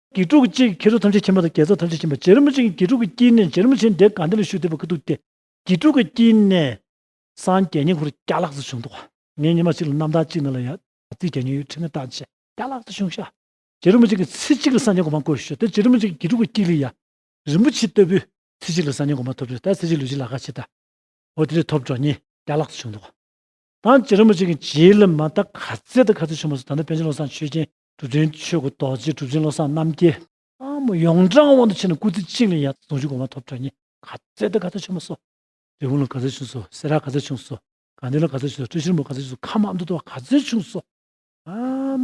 དགེ་ཕྲུག་གཅིག་ཁྱེད་ཚོ་ཐམས་ཅད་ཁྱིམ་པ་དང་རྒྱལ་ཚོགས་ཐམས་ཅད་ཁྱིམ་པ་རྗེ་རིན་པོ་ཆེ་གཉིས་དགེ་ཕྲུག་གི་དཀྱིལ་ནས་རྗེ་རིན་པོ་ཆེ་འདས་གང་འདི་ལ་ཞུ་འདོད་པ་ཀི་འདུག་སྟེ། དགེ་ཕྲུག་གི་དཀྱིལ་ནས། སངས་རྒྱས་ཉིང་ཁུ་རུ་སྐྱ་ལགས་སུ་བྱུང་འདུག་ངའི་ཉི་མ་གཅིག་ལ་རྣམ་ཐར་གཅིག་ན་ལ་ཡ། རྩིས་རྒྱ་ཉུང་ཡོད་ཁྲི་ངའི་རྟགས་ཆེ། སྐྱ་ལགས་སུ་བྱུང་ཤག། རྗེ་རིན་པོ་ཆེ་གི་ཚེ་གཅིག་ལ་སངས་རྒྱས་གོང་མ་བསྐོར་བྱོས་ད་རྗེ་རིན་པོ་ཆེ་གི་དགེ་ཕྲུག་གི་དཀྱིལ་ལ་ཡ། རིན་པོ་ཆེ་ལྟ་བུའི་ཚེ་གཅིག་ལ་སངས་རྒྱས་གོང་མ་ཐོབ་བྱོས་ད་ཚེ་གཅིག་ལུས་གཅིག་ལ་ཁ་ཕྱེ་ད། འོ་དེ་རེ་ཐོབ་འགྲོ་ཉིན་སྐྱ་ལགས་སུ་བྱུང་འདུག། ད་རྗེ་རིན་པོ་ཆེ་གི་རྗེས་ལ་མ་ད་ག་ཚེ་ད་ག་ཚེ་བྱུང་མ་སོང་ད་ནི་པན་ཆེན་བློ་བཟང་ཆོས་རྒྱན་གྲུབ་ཆེན་ཆོས་སྐུ་རྡོ་རྗེ་གྲུབ་ཆེན་བློ་བཟང་རྣམ་རྒྱལ། ཨ་མོ་ཡོངས་གྲགས་དབང་དུ་བྱས་ནས་སྐུ་ཚེ་གཅིག་ལས་ཡར་དུ་གདུང་རྒྱུད་གོང་མ་ཐོབ་གྲགས་གཉིས། ག་ཚད་ལྟ་ག་ཚད་ཆེན་མོ་སོགས། རི་བོང་ལ་ག་ཚད་ཆུང་སོགས་སེ་ར་ག་ཚད་ཆུང་སོགས། གངས་ལྡན་ལ་ག་ཚད་ཆུང་སོགས་སྤྲུལ་ཆེན་མོ་ག་ཚད་ཆུང་སོགས་ཁམས་ཨ་མདོ་ལྟོ་བ་ག་ཚད་ཆུང་སོགས། ཨ་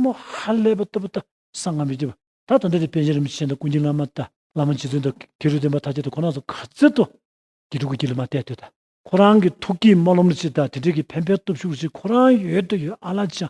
མོ་ཧ་ལས་པ་ལྟ་བུ་ལྟ་སང་ངམ་བརྒྱད་པ་ད་དང་འདས་དེ་དཔལ་ཆེན་རིན་པོ་ཆེ་དང་ཀུན་མཁྱེན་བླ་མ་དང་བླ་མ་རྗེ་བཙུན་དང་ཁེ་རུ་བསྟན་པ་དྷ་ཀྱེ་དང་ཁོ་ན་ཚོ་ག་ཚད་ལྟོ། དགེ་ཕྲུག་གི་དགེ་ལུགས་མ་གཏད་ལྟོས་དང། ཁོ་རང་གི་ཐུགས་ཀྱིས་སྨོན་ལམ་ལོ་གཅིག་དང་དེ་འབྲེལ་གྱི་ཕན་པའི་སྟོབས་ཤུགས་ལོ་གཅིག་ཁོ་རང་ཡོད་ལྟོས་ཡོད་ཨ་ལ་ཅང་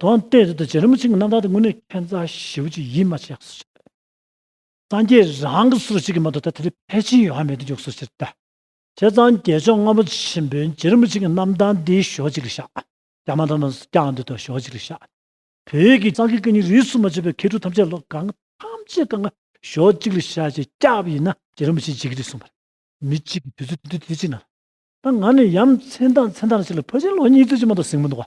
དོན་དེ་རེད་དོ་རྗེ་རིན་པོ་ཆེ་གི་རྣམ་ཐར་དེ་དངོས་གནས་ཁྱད་མཚར་ཞེ་བོ་ཅིག་ཡིན་མ་ཆད་གསུར་བྱེད་དོ། སངས་རྒྱས་རང་གི་གསུར་བྱེད་ཀྱི་མ་གཏོགས་ད་ལྟ་དེ་ཕལ་ཆེན་ཡོད་ཧ་མེད་དུ་འཇོག་གསུར་བྱེད་དོ། བྱས་ཙང་རྒྱལ་མཆོག་ལྔ་པོ་ཆེན་པོའི་རྗེ་རིན་པོ་ཆེ་གི་རྣམ་ཐར་འདི་ཞོག་ཅིག་ལ་བཞག། རྒྱ་མ་ཐང་དང་སྐྱ་འདི་དང་ཞོག་ཅིག་ལ་བཞག། བོད་ཀྱི་སངས་རྒྱས་བསྐལ་གཉིས་རིས་སུ་མ་ཆད་པའི་མཁས་གྲུབ་ཐམས་ཅད་ལོ་གང་ཐམས་ཅད་གང་ཞོག་ཅིག་ལ་བཞག་ཅེས་སྐྱག་པ་ཡིན་ན་རྗེ་རིན་པོ་ཆེས་འཇིགས་ཀྱི་རེད་གསུངས་པ་རེད། མི་གཅིག་གིས་དུས་ཚོད་དེ་དུས་དེ་གཅིག་ན། ད་ང་ནི་ཡ་མཚན་དང་མཚན་དང་ཅིག་ལ་ཕོ་ཆེན་ལོ་གཉིས་ཚུན་ཅིག་མ་གཏོགས་གཟིགས་མི་འདུག།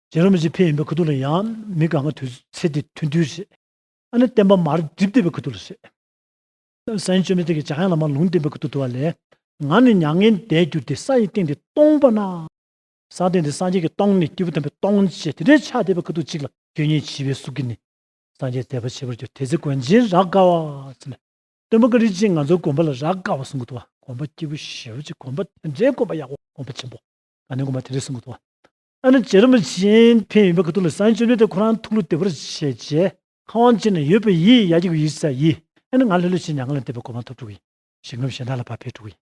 རྗེ་རིན་པོ་ཆེ་ཕེབས་ཡིན་པའི་ཁུ་ཐུག་ལ་ཡང་མི་དགའ་ང་དུས་ཚེ་འདི་ཐུང་དུས་ཞེས། ཨ་ནི་བསྟན་པ་མར་འགྲིབ་བསྡད་པའི་ཁུ་ཐུག་ལ་ཞེས། ས་ཡིན་ཅོ་མི་ཐེག་གི་བྱ་ཡང་ལ་མར་ལུང་བསྟན་པའི་ཁུ་ཐུག་ཏུ་བ་ལས། ང་ནི་མྱ་ངན་འདས་གྱུར་ཏེ་ས་ཡི་སྟེང་འདི་སྟོང་པ་ན། ས་སྟེང་འདི་སངས་རྒྱས་ཀྱི་སྟོང་ནི་སྐྱེས་བུ་དམ་པའི་སྟོང་ཞེས་དེ་འདྲའི་ཆ་དད་པའི་ཁུ་ཐུག་ཅིག་ལ་ཁྱོད་ཉིད་བྱིས་པའི་གཟུགས་ཀྱིས་ནི། སངས་རྒྱས་མཛད་པ་བྱེད་པར་གྱུར་དེ་ཚེ་དགོན་ཆེན་རག་དགའ་བ། སྟོན་པ་ཀ་རིག་ཅིང་ང་ཚོ་དགོན་པ་ལ་རག་དགའ་བ་གསུང་གི་ཐུ་བ་དགོན་པ་སྐྱེས་བུ་ཞེ་བོ་ཅིག་དགོན་པ་དེ་འདྲའི་དགོན་པ་ཡག་པོ་དགོན་པ་ཆེན་པོ་ང་ནི་དགོན་པ་དེ་འདྲའི་གསུང་གི་ཐུ་བ། ཨ་ནི་ཅེ་རིན་པོ་ཆེས་ཕན་ཡོན་པའི་གུ་དོག་ལས་བསང་མཆོད་ནོས་ཏེ་ཁོ་རང་ཐུགས་ལུས་བདེ་བར་བྱས་རྗེས། ཁ་དབང་ཅན་ནས་ཡོད་པའི་ཡིད་ཡ་གྱི་གུ་ཡིག་ས་ཡིས་ཨ་ནི་ང་ལྷོད་ལྷོད་བྱས་མྱ་ངན་ལས་འདས་པའི་གོ་འཕང་ཐོབ་འགྲོ་གི་ཡིན་ཞེས་ངོས་གཞན་དག་ལ་བག་ཕེབས་འགྲོ་གི་ཡིན་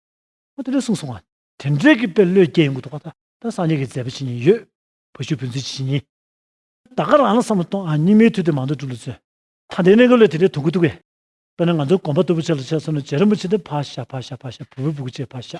ཁོ་དེ་ལོས་གསུངས་སོང་ང། དེ་འབྲེལ་གྱི་དཔེ་བློས་སྐྱེས་ཡོན་གུ་དོག་ཁ་ད་སངས་རྒྱས་ཀྱི་མཛད་པ་ཇི་སྙེད་ཡོད། བུ་ཆུ་བོའི་མཛོད་ཇི་སྙེད་ཡིན། ད་ག་རང་ལ་བསམ་བློ་གཏོང་ཨ་སྙིགས་མའི་དུས་དེ་མང་དུ་སྒྲུབ་ལ་བརྩོན། ད་འདི་གནས་གུ་ལས་དེ་འདྲའི་དོན་གུ་དོག་གི། དཔེར་ན་ང་ཚོ་གོམ་པ་དུ་བུ་ཆ་ལ་ཆས་སོང་ནས་ཅེ་རིན་པོ་ཆེ་འདི་ཕ་ཤ་ཕ་ཤ་ཕ་ཤ་བུ་བུ་བུ་གུ་ཆེ་ཕ་ཤ།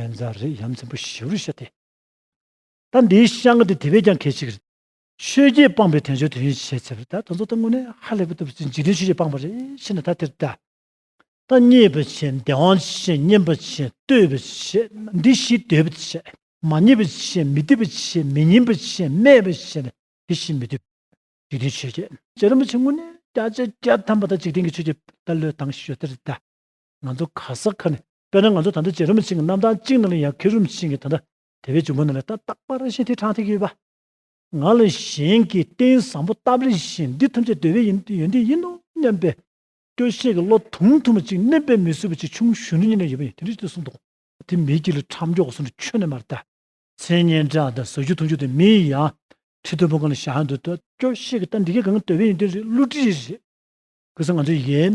ཨེ་འཛའ་རེད་ཡ་མཚན་པོ་བཞི་བོར་བཤད་དེ། ད་འདིའི་བཤད་འགའ་དེ་དེ་བས་ཀྱང་གལ་ཆེ་གི་རེད། ཆོས་རྗེ་སྤངས་པའི་དོན་ཆོས་དོན་ཡིན་ཞེས་བྱས་པ་ད་དོན་ཚོ་ད་དངོས་གནས་ཧ་ལས་པོ་ཐུབ་ཟིན་འཇིག་རྟེན་ཆོས་རྗེ་སྤངས་པ་རེད་ཤེས་ན་ད་དེར་བལྟ། ད་མཉེས་པ་བྱས་འདས་དབང་བྱས་བསྙེན་པ་བྱས་བསྟོད་པ་བྱས་འདི་བཞིས་འདོད་པ་བྱས་མ་མཉེས་པ་བྱས་མི་བསྟོད་པ་བྱས་མི་བསྙེན་པ་བྱས་སྨད་པ་བྱས་ན་དེ་བཞིན་མི་འདོད། འཇིག་རྟེན་ཆོས་རྗེ། རྗེ་རིན་པོ་ཆེ་དངོས་གནས་བརྒྱ་ཆའི་བརྒྱ་ཐམ་པ་ད་འཇིག་རྟེན་གྱི་ཆོས་རྗེ་ད་བློས་བཏང་ཞོ་དེར་བལྟ། ང་ཚོ་ག་ས་ག་ནས་དཔེར་ན་ང་ཚོ་ད་ལྟ་ཇེ་རུམ་ཆེན་གྱི་རྣམ་གྲངས་གཅིག་ནང་ལ་ཡང་ཁེར་རུམ་ཆེན་གྱི་ད་ལྟ་དེ་བས་ཅུང་མང་ནང་ལ་ཏག་ཏག་པར་རིས་ཤིག་ཐེ་དྲག་ཐེ་གི་ཡོད་པ། ང་ལ་གཞན་གྱིས་རྟེན་བཟང་པོ་སྟབས་རེ་བཞིན་འདི་ཐམས་ཅད་འདོད་པའི་ཡོན་ཏན་ཡིན་ནོ་སྙམ་པའི། སྐྱོ་ཤས་ཀྱི་བློ་ཐུང་ཐུང་བ་ཅིག་མནན་པའི་མི་སྲུ་བ་ཅིག་ཆུང་གཞོན་ནུ་གཉིས་ནས་ཡོད་པ་ཡིན་དེ་འདྲ་ཞིག་ཏུ་གསུངས་འདུག། དེ་མི་གཅིག་ལ་ཁྲམ་མགྱོགས་སུ་ཁྱོན་ནས་མ་རེད་ད། མཚན་སྙན་གྲགས་དང་ཟ་རྒྱུ་འཐུང་རྒྱུ་དེ་མི་ཡི་ཡང་ཁྲི་མཐོན་པོ་གང་ལ་བཞག་ཡང་འདོད་དོ། སྐྱོ་ཤས་ཀྱི་ལྟ་འདི་གས་གང་འདོད་པའི་ཡོན་ཏན་རེད་བསླུ་བྲིད་རེད། གུས་ས་ང་ཚོ་ཡིན།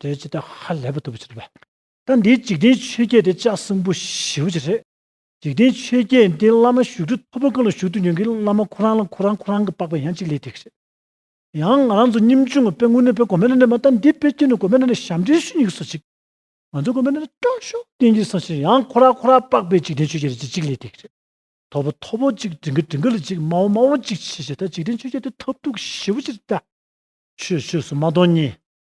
དེ་ཇི་ལྟར་ཧ་ལས་པ་ཐུབ་པར་བྱེད་དོ། ད་འདིའི་འཇིག་རྟེན་ཆོས་བརྒྱད་དེ་ལྕགས་སྲིན་པོ་བཞི་བོ་ཅི་རེད། འཇིག་རྟེན་ཆོས་བརྒྱད་འདི་བླ་མ་བཞུགས་ཁྲི་མཐོ་པོ་གང་ལ་བཞུགས་འདུག་ཡོང་གི་བླ་མ་ཁོ་རང་ལ་ཁོ་རང་ཁོ་རང་གི་པགས་པའི་ཡང་གཅིག་ལས་ཐེག་ཤེས། ཡང་ང་རང་ཚོ་སྙིམ་ཆུང་ངུ་དཔེ་དངོས་གནས་དཔེ་གོ་མེད་ན་ནས་མ་ད་འདི་དཔེ་ཁྱོད་ནས་གོ་མེད་ན་ནས་ཞབས་འདྲེན་ཞུ་ཉིན་གི་སོ་གཅིག། ང་ཚོ་གོ་མེད་ན་ནས་སྐྱོ་ཤོག་བསྟན་གྱི་སོ་ཤིག་ཡང་ཁོ་ར་ཁོ་ར་པགས་པའི་འཇིག་རྟེན་ཆོས་བརྒྱད་རེད་ཅིག་གཅིག་ལས་ཐེག་ཤེས། མཐོ་པོ་མཐོ་པོ་གཅིག་བྲིང་གི་བྲིང་གི་ལ་གཅིག་དམའ་བོ་དམའ་བོ་གཅིག་ཆེ་ཆེ་ད་འཇིག་རྟེན་ཆོས་བརྒྱད་དེ་ཐབས་རྡུགས་བཞི་བོ་ཅི་རེད་ད། ཆོས་ཆོས་སུ་མ་མཐོང་གཉིས།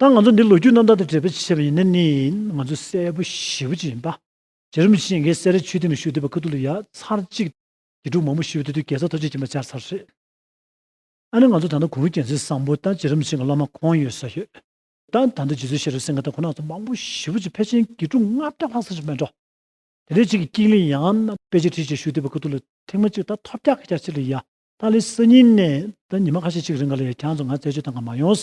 ད་ང་ཚོ་འདི་ལོ་རྒྱུས་རྣམ་ཐར་དང་འབྲེལ་བའི་ཆེད་བྱས་པ་ཡིན་ན་ནི་ང་ཚོ་གསལ་པོ་ཞི་བོ་ཅིག་ཡིན་པ། རྗེ་རིན་པོ་ཆེས་འགའི་གསལ་རས་ཆོས་སྡིངས་ལ་ཞུགས་བསྡད་པ་ཁ་ཐུག་ལ་ཡ་མཚར་གཅིག་དགེ་ཕྲུག་མང་པོ་ཞི་བའི་དུས་དེར་རྒྱལ་ཚབ་ཐོ་ཆེ་གྱིས་མ་སྦྱར་ཚར་རེད། ཨ་ནི་ང་ཚོ་ད་ལྟ་གུང་རུ་རྒྱལ་མཚན་བཟང་པོ་དང་རྗེ་རིན་པོ་ཆེ་འགའ་བླ་མ་ཁོང་ཡོད་ས་ཡོད། ད་ད་ལྟ་རྗེ་བཙུན་ཤེས་རབ་སེང་གེ་དང་ཁོ་ན་ཚོ་མང་པོ་ཞི་བོ་ཅིག་ཕལ་ཆེན་དགེ་ཕྲུག་ལྔ་བརྒྱ་ལྷག་ས་ཆ་མེད་འགྲོ། དེ་འདྲའི་གཅིག་གི་ཀིང་ལི་ཡང་ན་དཔེ་ཆ་ཁྲི་ཆེ་ཞུགས་བསྡད་པའི་ཁ་ཐུག་ལ་ཐེངས་མ་གཅིག་ད་ཐོབ་རྒྱག་གི་རྒྱག་ཕྱིར་ལ་ཡ་ད་ལི་སི་ཉིན་ནས་ད་ཉི་མ་ཁ་ཤས་གཅིག་རིང་ག་ལ་ཡ་གྱང་ཚོ་ང་རྩད་གཅོད་དང་ག་མ་ཡོང།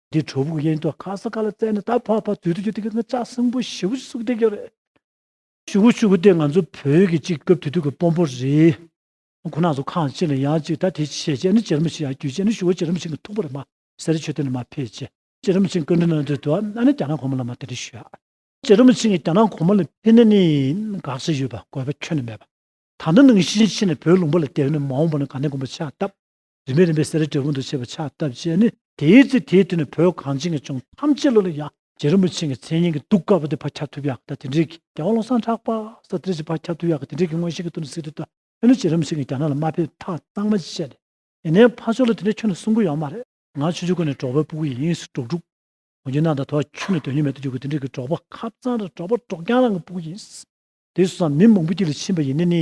འདི་གྲོ་བུག་གཡས་མདོག་ཁ་སང་ཁ་ལ་བཙལ་ནས་ད་ཕ་ཕ་དུས་དུ་གྱུར་དེ་གི་ང་ཅག་སྲིན་པོ་བཞི་བོ་ཞིག་གསུག་བསྡད་ཀྱི་རེད། ཤུ་གུ་ཤུ་གུ་དེ་ང་ཚོ་བོད་ཀྱི་གཅིག་སྐབས་དུས་དུས་ཀྱི་དཔོན་པོ་རེད། ཁོ་ན་ཚོ་ཁང་ཕྱི་ལ་ཡང་ཅིག་ད་དེ་བྱས་བྱས་ནི་ཅི་རིམ་ཞིག་ཡང་རྒྱུས་བྱས་ནི་ཞུ་བ་ཅི་རིམ་ཞིག་གི་ཐུག་པ་རེད་མ་ཟེར་ཆོས་དེ་ནི་མ་ཕེད་ཅི་རིམ་ཞིག་སྐུ་མགྲོན་ན་འདོད་དོ་ན་ནི་རྒྱ་ནག་གོང་མ་ལ་མ་དེ་རིགས་ཞུ་ཡ། ཅི་རིམ་ཞིག་རྒྱ་ནག་གོང་མ་ལ་ཕེ་ནི་ནི་དགག་བྱ་ཡོད་པ་དགོས་པ་ཁྱོན་ནི་མེད་པ། ད་ནི་ནང་བཞིན་ཕྱི་ནས་བོད་ལུང་པ་ལ་དེ་བས་ནི་མ་འོངས་པ་ནི་ག་ནས་དགོངས་པ་ཆགས་སྟབས། རིམ་པས་རིམ་པས་སེ་ར་ཏྲེ་ཧུན་དུ་ཆས་པའི་ཕྱག་བཏབ་ཅེས་ནི། དེའི་ཚེ་དེའི་དུས་ན་བོད་གངས་ཅན་གྱི་ལྗོངས་ཐམས་ཅད་ལ་ལ་ཡང་རྗེ་རིན་པོ་ཆེ་ཀྱི་མཚན་སྙན་གྱི་གདུགས་དཀར་པོ་དེ་བག་ཁྱབ་ཐུབ་ཡག་གི་ད་དེ་འབྲེལ་གྱི་རྒྱལ་བ་བློ་བཟང་གྲགས་པ་ས་ཏིར་གྱི་བག་ཁྱབ་ཐུབ་ཡག་གི་དེ་འབྲེལ་གྱི་མངོན་ཤེས་ཀྱི་དུར་སེར་དུ་ད་ནི་རྗེ་རིན་པོ་ཆེ་ཀྱིས་རྒྱ་ནག་ལ་མ་ཕེབས་ཐག་གཙང་མ་བཅད་ནས་དེ་ནས་ཕ་ཕྱོགས་ལ་དེ་འདྲའི་ཁྱོད་ནི་སྲུང་གི་ཡོད་མ་རེད། ང་ཆུ་ཆུ་ཁོ་ནས་འབྲོག་པའི་སྤུ་གུ་ཡིན་ཡིན་སུ་འབྲོག་ཕྲུག་ངོ་རྒྱུ་ནང་དང་དོ་བ་ཁྱོད་ནི་དོན་སྙིང་མེད་དུ་འགྱུར་གི་དེ་འབྲེལ་གྱི་འབྲོག་པ་ཁབ་གཙང་ར་འབྲོག་པ་འབྲོག་རྒྱང་རང་གི་སྤུ་གུ་ཡིན། དེ་སུ་སང་མི་མང་པོ་དཀྱིལ་ལ་ཕྱིན་པ་ཡིན་ནི་ནི།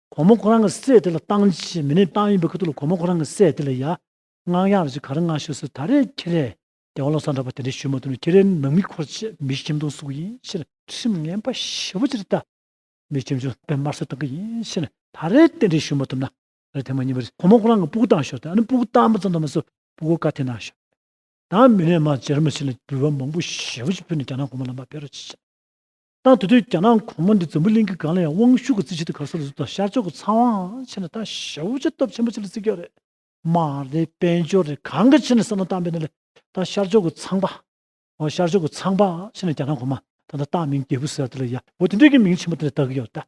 གོང་མ་ཁོ་རང་གི་སྲས་དེ་ལ་བཏང་ཅི་བྱེད་མི་ནུས་བཏང་ཡིན་པའི་ཁ་ཐུག་ལ་གོང་མ་ཁོ་རང་གི་སྲས་དེ་ལ་ཡང་སྔགས་ཡག་རེ་ཅིག་ག་རེ་མངའ་ཞུས་སུ་ད་རེས་ཁྱེད་རས་རྒྱལ་བ་ལོ་གསར་འདྲ་པོ་དེ་འདྲས་ཞུས་མ་ཐུབ་ན་ཁྱེད་རའི་ནང་མི་འཁོར་བཅས་མི་ཞིམ་དུང་སུག་ཡིན་ཕྱིར། ཁྲིམས་ངན་པ་ཞེ་བོ་ཅིར་བལྟ། མི་ཞིམ་ཅུང་ཟད་དམར་གསོད་བཏང་གི་ཡིན་ཕྱིར་ད་རེས་དེ་འདྲས་ཞུས་མ་ཐུབ་ན་ད་རེས་དེ་མ་ཉིན་པར་གོང་མ་ཁོ་རང་གི་སྤུ་གུ་བཏང་ཞོག་དེ་ནས་སྤུ་གུ་བཏང་མ་ཙམ་དུ་མ་ཟད་སྤུ་གུ་བཀའ་ཐེ་ན་ཞོག་དེ་དང་མི་ནས་མ་བྱེ་ར་མ་བྱེ་ལ་འགྱུར་བ་མང་པོ་ཞེ་བོ་ཅིག་ཕུལ་ནས་རྒྱ་ནག་གོང་མ་ལམ་པ་བེད་རོགས་ཅི་བྱེད། ཏང་དེ་དུས་རྒྱ་ནག་གོང་མ་འདི་འཛམ་བུ་གླིང་གི་སྒང་ལ་ཡང་དབང་ཤུགས་ཀྱི་རྩིས་ཆེན་དུ་གར་སོང་ཟིན་ཐོག་ཤར་ཕྱོགས་ཀྱི་ཚངས་དབང་ཆེ་ན་ད་ཞབས་བུ་ཆེ་སྟོབས་ཆེན་པོ་ཆེ་ལ་རྩིས་རྒྱག་རེད། མ་རེད་དཔལ་འབྱོར་རེད་གང་གི་ཆེ་ན་བསམ་བློ་བཏང་པས་ན་ལེ། ད་ཤར་ཕྱོགས་ཀྱི་ཚངས་པ། ཨོ་ཤར་ཕྱོགས་ཀྱི་ཚངས་པ་ཆེ་ན་རྒྱ་ནག་གོང་མ་ད་ད་སྟག་མིང་རྒྱལ་བུ་ཟེར་བ་དེ་ལ་ཡ་བོ་དེ་འདྲས་ཀྱི་མིང་ཆེན་པོ་དེ་ལ་བཏགས་ཀྱི་ཡོད་རེད།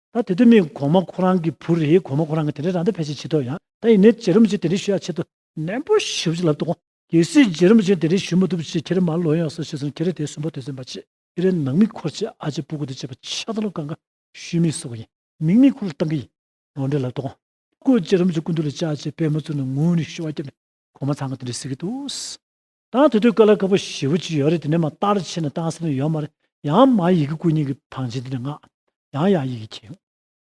ད་དེ་དུས་མི་གོང་མ་ཁོ་རང་གི་བུ་རེད་གོང་མ་ཁོ་རང་གིས་དེ་འདྲའི་རང་ལྟ་ཕལ་ཆེར་བྱེད་ཐུབ་ཡང་ད་ཡིན་ནའི་རྗེ་རིན་པོ་ཆེས་དེ་འདྲའི་ཞུ་ཡག་བྱེད་ཐུབ། ནན་པོ་ཞུ་ཅི་ལབ་ཏུ་དགོངས། གལ་སྲིད་རྗེ་རིན་པོ་ཆེས་དེ་འདྲའི་ཞུ་མ་ཐུབ་ཕྱིར་ཁྱེད་རང་མར་ལོག་ཡོང་ས་ཞེས་སོང་ཁྱེད་རང་དེ་སུན་པོ་དོན་ཚན་པ་ཆེ་ཁྱེད་རང་ནང་མི་འཁོར་ཆེད་ཨ་ཅེ་སྤུ་གུ་དེ་བྱེད་པ་ཆགས་སྡང་ལོ་ཀ་འགའ་ཞུས་མི་སོགས་ཡིན་མིང་མི་འཁོར་ལ་བཏང་གི་ཡིན་ནོ་འདྲེ་ལབ་ཏུ་དགོངས། སྐུ་རྗེ་རིན་པོ་ཆེ་སྐུ་མདུན་ལ་བཅར་ཆེད་པད་མ་བཙུན་ལ་ངུ་ནས་ཞུ་བ་བརྒྱབ་ནས་གོང་མ་ཚང་གི་དེ་འདྲའི་ཟེར་གི་འདུག། ད་དེ་དུས་ཀ་ལ་དཀར་པོ་ཞེས་པོ་གཅིག་ཡོད་རེད་དེ་ནས་མ་བརྟག་རེ་ཕྱིན་ན་བརྟག་སེམས་ཡོད་མ་རེད་ཡང་མ་ཡི་གེ་སྐུ་ཉིད་ཀྱི་ཐང་ཆེན་དེ་ནས་ངག་ཡང་ཡང་ཡི་གེ་ཁྱེར་ཡོང།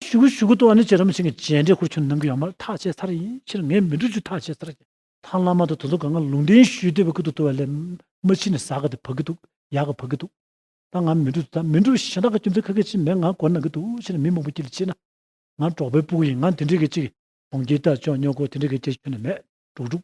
ཞུ་གུ་ཞུ་གུ་ཏོ་ཨ་ནི་ཅི་ར་མ་ཕྱིན་གྱི་རྗེས་འབྲེལ་ཁུར་ཆུ་ནང་གི་ཡོད་མ་རེད་ཐག་བཅད་ཚར་ཡིན་ཕྱིར་ངས་མི་འགྲུ་ཆུ་ཐག་བཅད་ཚར་ཀྱི། ཐང་བླ་མ་དང་དོ་དོ་ག་ང་ལུང་བསྟན་ཞུས་དེ་བ་ཀི་དུ་ཏོ་བ་ལས་མ་ཕྱིན་ནས་ཟ་ག་དེ་བ་ཀི་འདུག་ཡ་ག་བ་ཀི་འདུག་ད་ང་མི་འགྲུ་དེ་ད་མི་འགྲུ་གཞན་དག་གི་རྒྱུ་མཚན་ཁ་ཁ་ཅིག་མེད་ང་གོ་ན་གི་འདུག་ཕྱིར་མི་མང་པོ་ཀྱི་ལ་ཕྱིན་ན་ང་འབྲོག་པའི་སྤུ་གུ་ཡིན་ང་དེ་འདྲི་གི་ཅིག་གྲོང་ཁྱེར་དག་ཅོག་ཉོ་གོ་དེ་འདྲི་གི་ཅིག་ཁྱོད་ནས་མེད་འགྲོ་འགྲུག།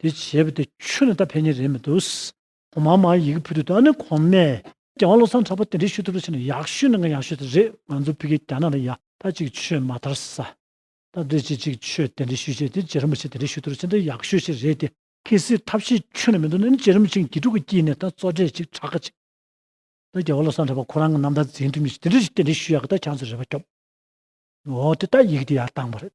དེ་བྱས་པ་དེ་ཆོས་ལ་ད་ཕན་ཉེ་རེད་མི་འདུག། གོང་མ་མ་ཡི་གི་བུ་དེ་དང་ནི་གོང་མས་རྒྱལ་བ་བློ་བཟང་གྲགས་པ་དེ་འདྲས་ཞུ་ཐུབ་ལ་ཕྱིན་ན་ཡག་ཤོས་ནི་ང་ཡག་ཤོས་དེ་རེད་ང་ཚོ་ཕི་གེ་རྒྱ་ནག་ལ་ཡ་ད་ཅིག་ཆོས་མ་དར་ས། སྟབས་བདེ་ཅིག་ཅིག་ཆོས་དེ་འདྲས་ཞུ་བྱས་དེ་རྗེ་རིན་པོ་ཆེ་དེ་འདྲས་ཞུ་ཐུབ་ལ་ཕྱིན་ད་ཡག་ཤོས་ཤིག་རེད་དེ། གལ་སྲིད་ཐབས་ཤེས་ཁྱོན་ནས་མི་འདུག་ན་ནི་རྗེ་རིན་པོ་ཆེ་དགེ་ཕྲུག་གི་དཀྱིལ་ནས་ད་གཙོ་གྲས་ཅིག་གྲགས་ཀ་ཅིག་ད་རྒྱལ་བ་བློ་བཟང་གྲགས་པ་ཁོ་རང་གི་རྣམ་ཐར་འཛིན་ཐུབ་མི་ཤེས་དེ་འདྲས་ཞིག་དེ་འདྲས་ཞུ་ཡག་གི་ད་གྱང་ཚོ་རེ་བ་སྐྱོབ། འོ་དེ་ད་ཡི་གི་དེ་ཡར་བཏང་བ་རེད།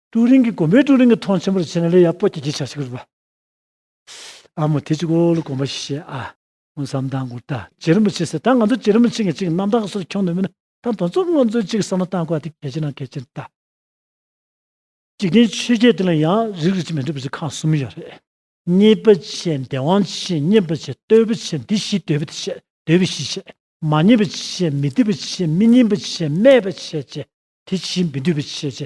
ཀྲུའུ་རིན་གྱིས་དགོན་པའི་ཀྲུའུ་རིན་གྱི་མཐོང་ཆེན་པོར་བྱས་ན་ལས་ཡག་པོ་སྐྱེལ་གྱི་བྱ་ཞིག་རེད་པ། ཨ་མོ་དེ་ཅིག་ཨོ་ལོ་དགོངས་པ་ཞིག་བྱས་ཨ། ངོ་བསམ་དང་དགོངས་དག་བྱེད་རིན་པོ་ཆེ་ཟེར་ད་ང་ཚོ་བྱེད་རིན་པོ་ཆེ་ངས་ཅིག་རྣམ་དག་གི་སོར་འཁྱོངས་འདོད་མིན་ན་ད་དོན་ཚོགས་དངོས་གཙོའི་ཅིག་བསམ་བློ་བཏང་དགོས་ཨ་དེ་གལ་ཆེ་ན་གལ་ཆེ་ད། འཇིག་རྟེན་ཆོས་བརྒྱད་དེ་ལ་ཡང་རིགས་རིགས་ཅིག་མི་འདྲ་བ་ཅིག་ཁག་གསུམ་ཡོད་རེད། གཉིས་པ་ཆེ་འདས་དབང་ཆེ་གཉིས་པ་ཆེ་ལྟོས་པ་ཆེ་འདི་བཞི་ལྟོས་པ་དེ་ཆེ་ལྟོས་པའི་བཞི་ཆེ། མ་རྙེད་པ་ཆེ་མི་བསྡུ་བ་ཆེ་མི་སྙིང་པོ་ཆེ་སྨད་པ་ཆེ་ཆེ་དེ་བཞི་མི་བསྡུ་བ་ཆེ་ཆེ་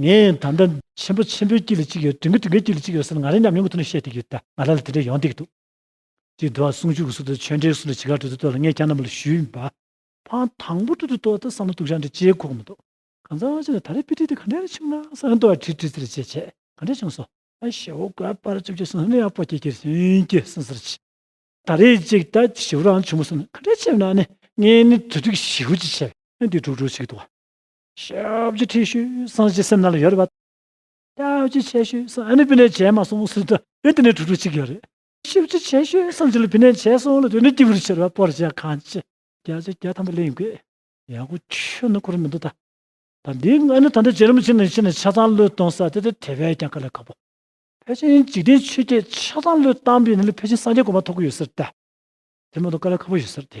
ངས་ད་ལྟ། ཆེན་པོ་ཆེན་པོའི་དཀྱིལ་ལ་གཅིག་ཡོད། དྲིན་གྱི་དྲིན་གྱི་དཀྱིལ་ལ་གཅིག་ཡོད་ཟེར་ན་ང་རང་ཉམས་མྱོང་གི་ཐོག་ནས་བཤད་བསྡད་ཡོད། ང་ལ་ལ་དེ་འདྲ་ཡོང་བསྡད་ཀྱི་འདུག། ཅེས་བསྡུ་བ་ཟུང་འཇུག་གི་སུ་དང་ཆོས་འབྲེལ་གྱི་སུ་ལ་ཇི་གར་འགྲོ་དུས་ལྟོས་ལ་ངས་ཀྱང་རྣམ་པ་ལ་ཞུས་པ། ཕངས་དང་པོ་དུས་དུ་ལྟོས་ལྟོས་བསམ་བློ་དུག་ཤ་འདྲ་ལྕེའི་ཁོག་མི་ཐོག། གང་ཟག་ཅིག་ལ་ད་རེས་དཔེ་ཁྲིད་དེ་ག་འདྲ་ཡང་ཆུང་ན་ས་ཡང་ལྟོ་བར་ཁྲིད་ཁྲིད་ཚིག་ལ་ཆད་ཆད་ག་འདྲ་བྱུང་སོང། ཞེ་བོ་དགའ་བར་བཅུག་ཅེས་སོང་ནས་ཡང་པོ་ཀྱེ་ཀྱེ་ཧྲིན་ཀྱེ་སིན་སིར་ཕྱིན། ད་རེས་གཅིག་ད་ཞེ་བོ་རང་བྱུང་མ་སོང་ནས་ག་འདྲ་བྱས་ན་ནི་ངས་ནི་དུས་དྲུག་ཞེ་བོ་ཅིག་བྱས་པས་ནི་དུས་དྲུག་དྲུག་ཅིག་གི་དུ་བ། ཞབས་ཀྱི་ཁྲེགས་ཤུལ་སངས་རྒྱས་སེམས་ནང་ལ་ཡོད་རེད་པ། ཞབས་ཀྱི་ཁྲེགས་ཤུལ་སངས་རྒྱས་ལ་བི་ནས་བྱས་མ་སོང་སུ་དེ་དེ་ནས་དྲུག་དྲུག་གཅིག་ཡོད་རེད། ཞབས་ཀྱི་ཁྲེགས་ཤུལ་སངས་རྒྱས་ལ་བི་ནས་བྱས་སོང་ལ་དེ་ནས་སྐྱིད་པོར་ཕྱིར་བ་སྤོར་བྱས་གང་ཅི་བརྒྱ་ཆ་བརྒྱ་ཐམ་པ་གླེང་དགོས། ཡག་པོ་ཁྱོད་ནི་གོ་རིམ་མི་འདུག་ད། ད་འདི་ང་ནི་ད་ལྟ་རྗེ་རིན་པོ་ཆེ་ནས་ཕྱི་ནས་ཆ་ཚང་བློས་གཏོང་ས་དེ་དེ་དེ་བས་ཀྱང་དཀའ་ལས་དཀའ་པོ། ཕལ་ཆེན་འཇིག་རྟེན་ཆོས་བརྒྱད་ཆ་ཚང་བློས་བཏང་པས་ནི་ལས་ཕལ་ཆེན་སངས་རྒྱས་དགོངས་པ་ཐོབ་གི་ཡོད་ཟེར་ཏེ། དེ་མ་གཏོགས་དཀའ་ལས་ཁ་པོ་ཡོད་ཟེར་ཏེ།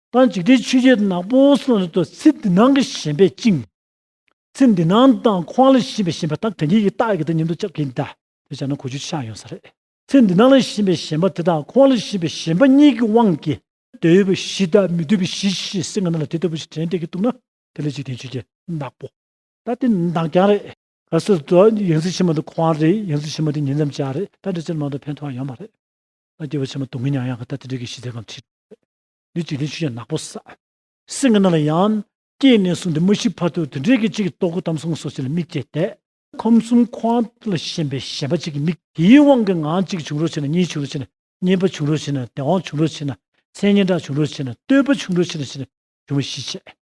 ད་འཇིག་རྟེན་ཆོས་བརྒྱད་ནག་པོ་གསུམ་ལ་སོགས་ཚེ་འདི་སྣང་གི་ཞེན་པས་བཅིངས། ཚེ་འདི་སྣང་དང་ཁོང་ལ་ཞེན་པའི་ཞེན་པ་དག་གན་རྐྱལ་གྱི་རྟགས་ཀྱིས་ད་ཉིན་ཏུ་བཅག་གིན་གདའ། དེ་བྱས་ན་གོ་ཆོད་ཆགས་ཡོང་ས་རེད། ཚེ་འདི་སྣང་ལ་ཞེན་པའི་ཞེན་པ་དེ་དང་ཁོང་ལ་ཞེན་པའི་ཞེན་པ་གཉིས་ཀྱི་དབང་གིས། འདོད་ཡོད་པའི་གཞི་དང་མི་འདོད་པའི་གཞི་ཞེས་སེམས་ངན་ལ་དེ་ལྟ་བུ་ཞིག་དྲན་བསྡད་ཀྱིན་འདུག་ན་དེ་ལ་འཇིག་རྟེན་ཆོས་བརྒྱད་ནག་པོ། ད་དེ་འདང་རྐྱང་རེད། གལ་སྲིད་དུ་ཡིག་འཛིན་ཆེན་མོ་དེ་ཁོང་རེད་ཡིག་འཛིན་ཆེན་མོ་དེ་ཉིན་མཚམས་བཅར་རེད་ད་འདྲི་ཚིག་མང་དུ་ཕན་ཐོགས་ཡོང་མ་རེད། ད་སྐྱེས་བུ་ཆེན་མོ་དུང་གི་ཉག་ཡང་གི་ད་དེ་འདྲི་གི་གཞི་རྩའི་ཁམས་ཁྲིད་རེད། འདི་དུས་ནི་ཆུ་ཡང་ནག་པོ་ཟ། སེང་གེ་རྣམས་ལ་ཡང། སྐྱེས་ནས་བཟུང་སྟེ་མ་ཤི་བར་དུ་དུད་འགྲེལ་གྱི་གཅིག་གིས་ལྟོ་གོས་དམ་སྲུང་སོགས་བྱས་ལ་མིག་བཅད་དེ། ཁམས་གསུམ་ཁོང་ཁྲོ་ལ་ཞེན་པའི་ཞེན་པ་གཅིག་གིས་མིག་དེའི་དབང་གིས་ངང་གཅིག་བྱུང་རོ་ཆེ་ན་གཉིས་བྱུང་རོ་ཆེ་ན་གཉེན་པ་བྱུང་རོ་ཆེ་ན་དེ་དབང་བྱུང་རོ་ཆེ་ན་མཚན་སྙན་གྲགས་བྱུང་རོ་ཆེ་ན་བསྟོད་པ་བྱུང་རོ་ཆེ་ན་ཆེ་ན་བྱུང་བ་བཞི་བྱེད་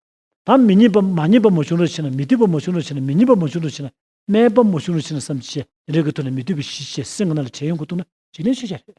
དམ། མི་མཉེས་པ་མ་མཉེས་པ་མོ་བྱུང་རོ་ཆེ་ན་མི་བསྟོད་པ་མོ་བྱུང་རོ་ཆེ་ན་མི་མཉེས་པ་མོ་བྱུང་རོ་ཆེ་ན་སྨད་པ་མོ་བྱུང་རོ་ཆེ་ན་བསམ་གྱིས་བྱས་དེ་འདྲ་གི་ཐོག་ནས་མི་བསྟོད་པ་བཞི་བྱས་སེང་གེ་རྣམས་ལ་བྱས་ཡོན་གོ་བཏུང་ན་འཇིག་རྟེན་ཆོས་ཅན་རེད།